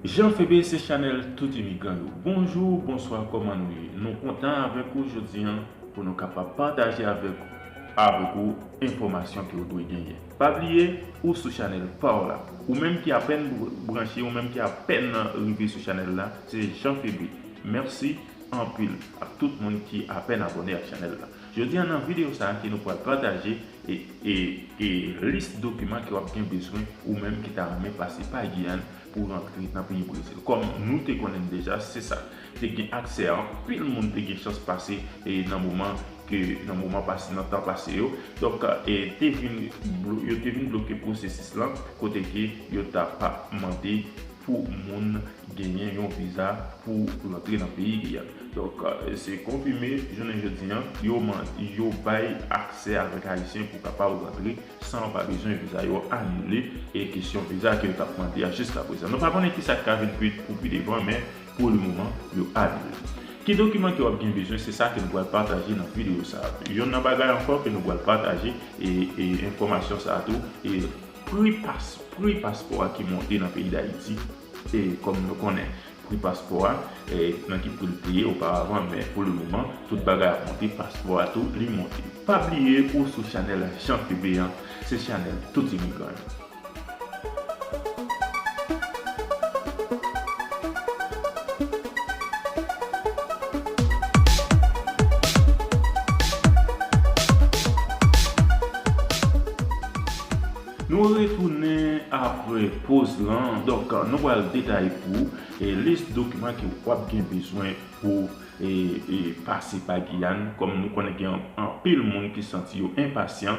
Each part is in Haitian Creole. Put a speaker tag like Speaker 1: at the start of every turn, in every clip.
Speaker 1: Jean Phebe se chanèl tout imigran yo. Bonjou, bonswa kòman nou ye? Nou kontan avèk ou jodi an pou nou kapab pataje avèk avèk ou enfòmasyon ke ou dwe genyen. Pa bliye ou sou chanèl pa w la. Ou menm ki apèn branche, ou menm ki apèn rive sou chanèl la, se Jean Phebe. Mèsi anpil ak tout moun ki apèn abòne ak chanèl la. Jodi an nan video sa a ke nou pwal pataje e e e lis dokiman ke wap gen bezwen ou menm ki ta renmen pase pa Guyane pou rantre nan peyi Brezil. Kòm nou te konnen n deja se sa te gen aksè anpil moun te gen chans pase e nan moman ke nan moman pase nan tan pase yo donk e te vin yo te vin bloke pwosesis lan kote ke yo ta pa mande pou moun genyen yon viza pou rantre nan peyi li a. Donk se konfime jounen jodi an yo man yo bay aksè avèk ayisyen pou kapab rantre san yo pa bezwen viza yo anile e kesyon viza ke yo tap mande a jiskaprezan. Nou pa konnen kisa k ka vin pi pou pi devan men pou le moman yo anile l. Ki dokiman ke w ap gen bezwen se sa ke nou pral pataje nan videyo sa. Yonn nan bagay ankò ke nou pral pataje e enfòmasyon sa tou e. Pri pas pri paspò a ki monte nan peyi Dayiti e kòm nou konnen pri paspò a e nan ki pri l te ye oparavan men pou le moman tout bagay ap monte paspò a tou li monte. Pa bliye ou sou chanèl Jean PB an se chanèl tout imigran yo. Nou retounen apre poz lan, donk nou pral detay pou ou lis dokiman ke wap gen bezwen pou pase pa Giyàn, kòm nou konnen gen anpil moun ki santi yo enpasyan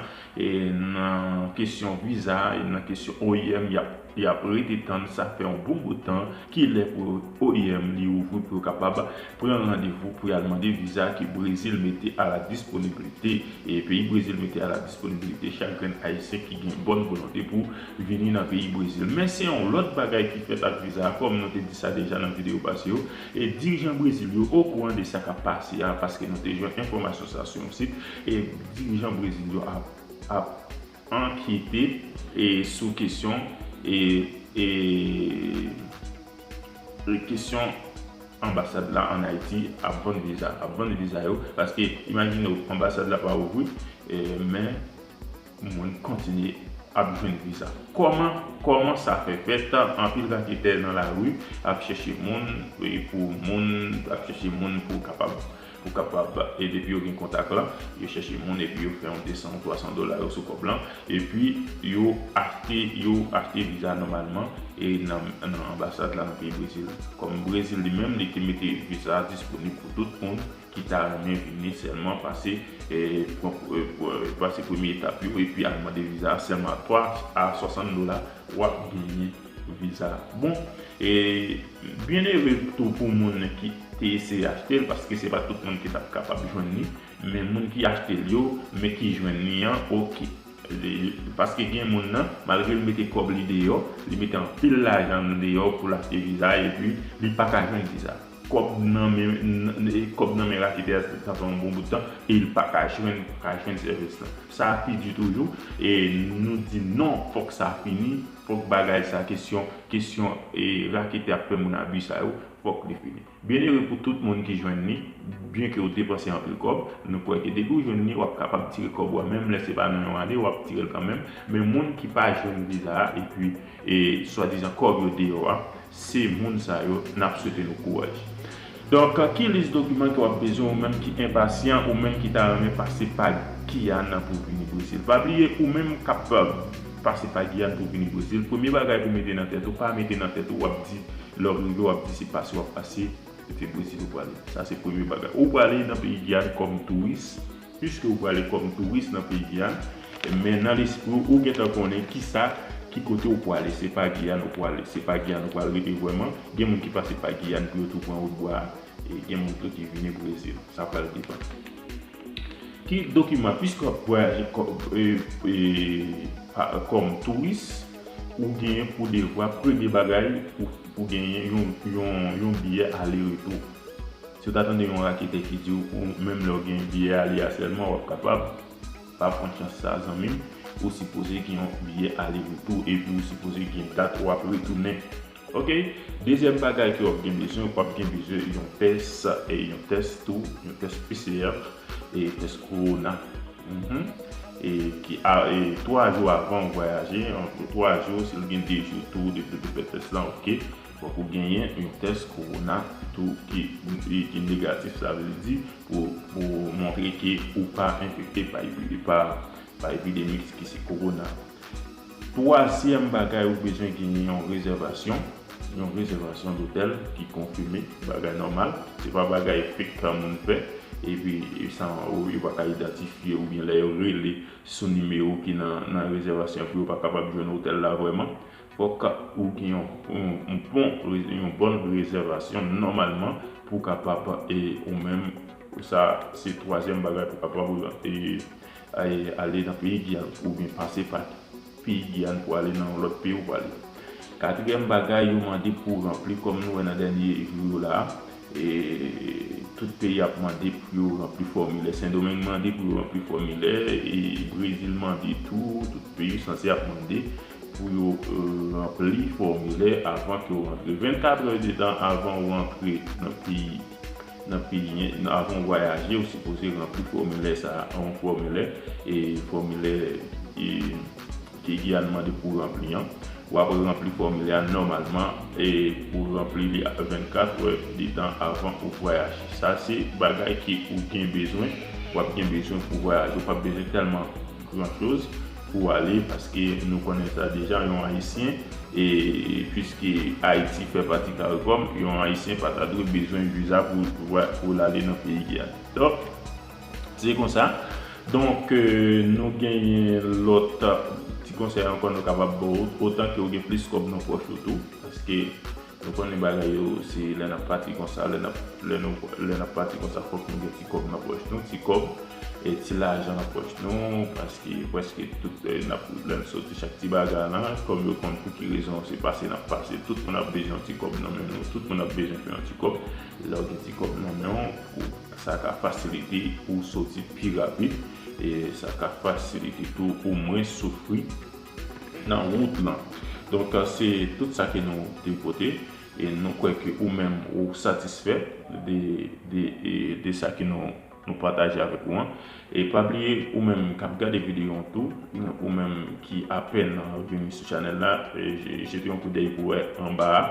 Speaker 1: nan kesyon viza, nan kesyon oim, yap Y ap rete tann sa fè yon bon bout tan, ki lè pou oim li ouvri pou yo kapab pran randevou pou y al mande viza ke Brezil mete a la disponibilite. E peyi Brezil mete a la disponibilite chak grenn Ayisyen ki gen bòn volonte pou vini nan peyi Brezil. Men se yon lòt bagay ki fèt ak viza a, kòm nou te di sa deja nan videyo pase yo, e dirijan Brezil yo okouran de sa k ap pase a, paske nou te jwenn enfòmasyon sa sou yon sit, e dirijan Brezil yo ap. Ankete sou kesyon Kesyon Anbasad la an Ayiti ap vann viza ap vann viza yo paske imajine w anbasad la pa ouvri men moun kontinye ap jwenn viza kòman kòman sa fè fèt anpil raketè nan lari ap chèche moun pou moun ap chèche moun pou kapab Ou kapab e depi yo gen kontak la, yo chèche moun epi yo fè yon 200 ou 300 dola yo sou kòb la, epi yo achte yo achte viza nòmalman e nan nan anbasad la nan peyi Brezil. Kòm Brezil li menm li te mete viza a disponib pou tout moun ki ta renmen vini sèlman pase e pran pase premye etap yo epi al mande viza a sèlman 3 a 60 dola wap genyen Vil sa bon e byen ere tou pou moun ki te eseye achte l paske se pa tout moun ki tap kapab jwenn li men moun ki achte l yo men ki jwenn li an ok paske gen moun nan malgre l mete kòb li deyò li mete anpil lajan l deyò pou l achte viza epi li pa ka jwenn viza kòb nan men raketè a sa fè yon bon bout tan e l pa ka jwenn sèvis lan sa pi di toujou e nou di non fòk sa fini. Fok bagay sa kesyon kesyon e raketè ap fè moun abi sa yo fok li fini. Byenere pou tout moun ki jwenn li, byen ke ou depanse anpil kòb, nou kwè ke depi ou jwenn li wap kapab tire kòb ou a menm lè se pa nan yon ane wap tirel kanmenm, men moun ki pa jwenn viza a epi e swadizan kòb yo deyò a, Se moun sa yo n ap swete nou kouraj. Donk, ki lis dokiman ke w ap bezwen ou menm ki enpasyan, ou menm ki ta renmen pase pa Giyàn pou vini Brezil? Pa bliye, ou menm k ap pase pa Giyàn pou vini Brezil, premye bagay pou mete nan tèt ou, pa mete nan tèt ou w ap di lè w rive w ap di se pase w ap pase, se Brezil ou prale. Sa se premye bagay. Ou prale nan peyi Giyàn kòm touris. Piske ou prale kòm touris nan peyi a, men nan lespri w, ou gentan konnen kisa, ki kote ou prale. Se pa Giyàn ou prale. Se pa Giyàn ou pral rete vrèman. Gen moun ki pase pa Giyàn pou yo tou pran wout bwa a. E gen moun tou ki vini Brezil. Sa pral depann. Ki dokiman, piske w ap vwayaje kòm touris, ou genyen pou devwa, premye bagay, pou genyen yon biyè ale retou. Si w ta tande yon raketè ki di w ou menm lè w gen biyè ale a sèlman wap kapab, pa pran chans sa zanmi m, ou sipoze gen yon biyè ale retou epi ou sipoze gen dat wap retounen ok. Dezyèm bagay ke wap gen bezwen, wap gen bezwen yon tès, yon tès tou, yon tès PCR, tès kowona e 3 jou avan ou vwayaje, 3 jou si w gen 2 jou tou depi w te fè tès lan ok. Fòk ou genyen yon tès kowona tou ki ki negatif sa vle di pou pou montre ke ou pa enfekte pa epi pa pa epidemik ki se kowona. Twazyèm bagay ou bezwen genyen yon rezèvasyon, yon rezèvasyon dotèl ki konfime bagay nòmal se pa bagay fake kan moun fè epi san ou yo pa ka idantifye oubyen lè yo rele sou nimewo ki nan nan rezèvasyon pou yo pa kapab jwenn otèl la vrèman. Fòk ou gen yon bon rezèvasyon nòmalman pou w kapab ou menm, sa se twazyèm bagay pou w kapab ale nan peyi Giyàn oubyen pase pa peyi Giyàn pou ale nan yon lòt peyi ou prale. Katriyèm bagay yo mande pou w ranpli kòm nou wè nan dènye jou yo la, tout peyi ap mande pou yo ranpli fòmilè, Sendomeng mande pou yo ranpli fòmilè, Brezil mande tou, tout peyi yo sanse ap mande. pou yo ranpli fòmilè avan ke w rantre. 24 è de tan avan ou rantre nan peyi nan peyi avan ou vwayaje ou sipoze ranpli fòmilè sa a yon fòmilè e fòmilè e ke Giyàn mande pou ranpli an w ap ranpli fòmilè a nòmalman e pou ranpli li 24 è de tan avan ou vwayaje sa se bagay ke ou gen bezwen w ap gen bezwen pou vwayaje ou p ap bezwen tèlman Gran choz pou ale paske nou konnen sa deja yon ayisyen e pwiske ayiti fè pati caricom yon ayisyen pa ta dwe bezwen viza pou l ale nan peyi a donk se konsa donk nou genyen lòt ti konsèy ankò nou kapab ba w otan ke w gen plis kòb nan pòch ou tou paske Nou konnen bagay yo se lè nap pati konsa lè nap lè nou lè nap pati konsa fòk nou gen ti kòb nan pòch nou ti kòb e ti lajan nan pòch nou paske prèske tout nap lè n soti chak ti bagay lan kòm yo konn pou ki rezon se pase nap pase tout moun ap bezwen yon ti kòb nan men nou tout moun ap bezwen fè yon ti kòb lè w gen ti kòb nan men w pou sa ka fasilite pou w soti pi rapid e sa ka fasilite tou ou mwens soufri. nan wout lan donk se tout sa ke nou te pote e nou kwè ke ou menm ou satisfè de sa ke nou pataje avèk ou an e pa bliye ou menm kap gade videyo an tou ou menm ki apèn vini sou chanèl la jete yon koudèy pou wè anba a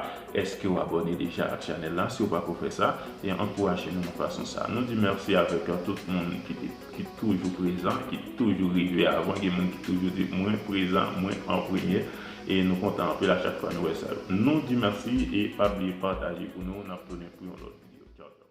Speaker 1: eske ou abòne deja ak chanèl la si ou pako fè sa e ankouraje nou nan fason sa nou di mèsi avèk tout moun ki te ki toujou prezan, ki toujou rive avan, gen moun ki toujou di mwen prezan, mwen an premye e nou kontan anpil a chak fwa nou wè sa yo. Nou di mèsi e pa bliye pataje pou nou, nap tounen pou yon lòt video. Tchaw tchaw.